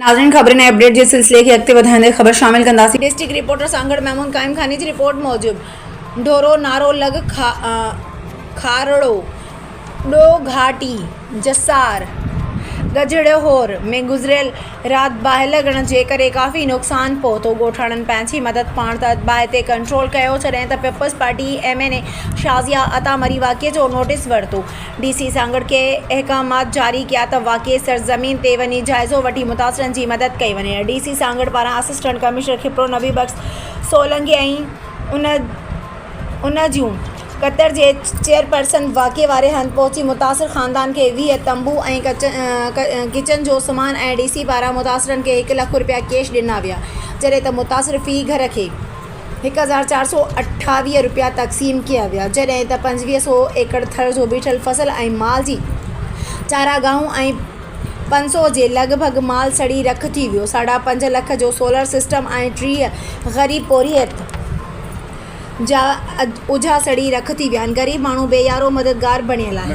ناظرين خبرن ۽ اپڊيٽ جي سلسلي کي اڳتي وڌائيندي خبر شامل ڪنداسين. ڊسٽرڪٽ رپورٽر سانگهڙ محمود قائم خاني جي رپورٽ موجب ڍورو نارو لڳ کارڙو ڏو گهاٽي جسار ڳجهڙهور ۾ گذريل رات باهه لڳڻ جي ڪري ڪافي نقصان پهتو ڳوٺاڻن پنهنجي مدد پاڻ تحت باهه تي ڪنٽرول ڪيو جڏهن ته Peoples Party M N A Shazia Atta Marri واقعي جو نوٽيس ورتو ڊي سي سانگهڙ ڪي احڪامات جاري ڪيا ته واقعي سرزمين تي وڃي جائزو وٺي متاثرن جي مدد ڪئي وڃي ڊي سي سانگهڙ پاران اسسٽنٽ ڪمشنر کپرو نبي بخش سولنگي ۽ ان جون ڪتر جي چيئرپرسن واقعي واري هنڌ پهچي متاثر خاندان کي ويهه تنبو ۽ ڪچن جو سامان ۽ ڊي سي پاران متاثرن کي هڪ لک رپيا ڪيش ڏنا ويا جڏهن ته متاثر في گهر کي هڪ هزار چار سؤ اٺاويهه رپيا تقسيم ڪيا ويا جڏهن ته پنجويهه سؤ ايڪڙ ٿر جو بيٺل فصل ۽ مال جي چاراگاهون ۽ پنج سؤ جي لڳ ڀڳ مال سڙي رک ٿي ويو ساڍا پنج لک جو سولر سسٽم ۽ ٽيهه غريب پورهيت جا اجها سڙي رک ٿي ويا آهن غريب ماڻهو بي يارو مددگار بڻيل آهي